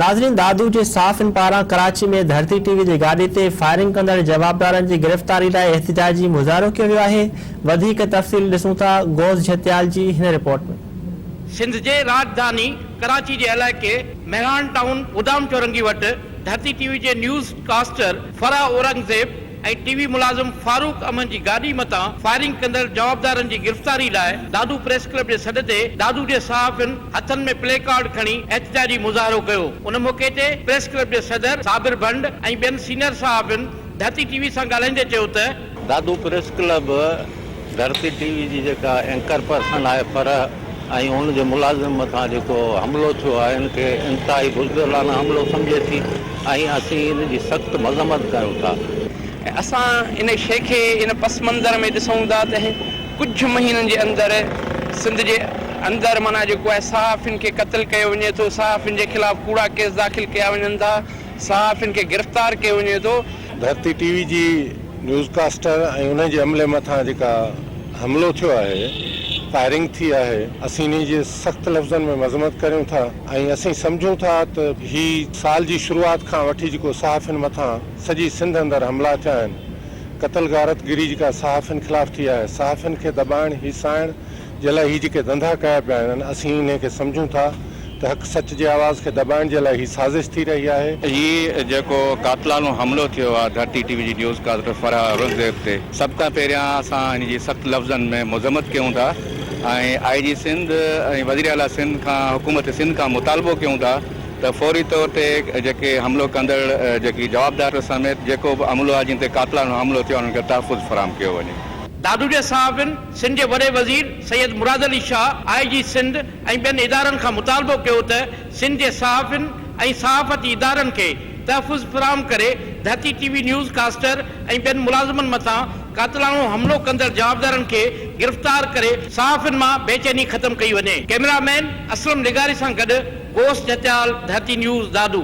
ناظرين دادو جي صحافين پاران ڪراچي ۾ ڌرتي ٽي وي جي گاڏي تي فائرنگ ڪندڙ جوابدارن جي گرفتاري لاء احتجاجي مظاهرو ڪيو ويو آهي وڌيڪ تفصيل ڏسون ٿا غوث جهتيال جي هن رپورٽ ۾. سنڌ جي راڄڌاني ڪراچي جي علائقي مهراڻ ٽائون گدام چورنگي وٽ ڌرتي ٽي وي جي news caster Farah Aurangzeb, ۽ TV وي ملازم فاروق امن جي گاڏي متان فائرنگ ڪندڙ جوابدارن جي گرفتاري لاء دادو پريس ڪلب جي سڏ تي دادو جي صحافين هٿن ۾ پلي ڪارڊ کڻي احتجاجي مظاهرو ڪيو ان موقعي تي پريس ڪلب جي صدر صابر ڀنڊ ۽ ٻين سينئر صحافين ڌرتي ٽي وي سان ڳالهائيندي چيو ته Dadu press club Dharti TV وي جي جيڪا اينڪر پرسن آهي فرح ۽ ان جي ملازم مٿان جيڪو حملو ٿيو آهي ان کي انتهائي بزدلانه حملو سمجهي ٿي ۽ اسين ان جي سخت مذمت ڪيون ٿا. اسان ان شيء کي ان پس منظر ۾ ڏسون ٿا ته ڪجهه مهينن جي اندر سنڌ جي اندر معنيٰ جيڪو آهي صحافين کي قتل ڪيو وڃي ٿو، صحافين جي خلاف ڪوڙا ڪيس داخل ڪيا وڃن ٿا. صحافين کي گرفتار ڪيو وڃي ٿو. ڌرتي ٽي وي جي نيوز ڪاسٽر ۽ انهن جي عملي مٿان جيڪا حملو ٿيو آهي، فائرنگ ٿي آهي، اسين انهي جي سخت لفظن ۾ مذمت ڪريون ٿا ۽ اسين سمجهون ٿا ته هي سال جي شروعات کان وٺي جيڪو صحافين مٿان سڄي سنڌ اندر حملا ٿيا آهن، قتل غارت گري جيڪا صحافين خلاف ٿي آهي، صحافين کي دٻائڻ، هيسائڻ، جي لاء هي جيڪي ڌنڌا ڪيا پيا وڃن اسين انهي کي سمجهون ٿا ته حق سچ جي آواز کي دٻائڻ جي لاء هي سازش ٿي رهي آهي. هي جيڪو قاتلانو حملو ٿيو آهي ڌرتي ٽي وي جي نيوز ڪاسٽر فرح اورنگزيب تي سڀ کان پهريان اسان ان جي سخت لفظن ۾ مذمت ڪيون ٿا ۽ آء جي سنڌ ۽ وزير اعليٰ سنڌ کان حڪومت سنڌ کان مطالبو ڪيون ٿا ته فوري طور تي جيڪي حملو ڪندڙ جيڪي جوابدار سميت جيڪو به عملو آهي جن تي قاتلانو حملو ٿيو آهي انهن کي تحفظ فراهم ڪيو وڃي. دادو جي صحافين سنڌ جي وڏي وزير سيد مراد علي شاهه آء جي سنڌ ۽ ٻين ادارن کان مطالبو ڪيو ته سنڌ جي صحافين ۽ صحافتي ادارن کي تحفظ فراهم ڪري ڌتي ٽي وي نيوز ڪاسٽر ۽ ٻين ملازمن مٿان قاتلاڻو حملو ڪندڙ جوابدارن کي گرفتار ڪري صحافين مان بي چيني ختم ڪئي وڃي. ڪئميرا مين اسلم لغاري سان گڏ غوث جتيال ڌرتي نيوز دادو.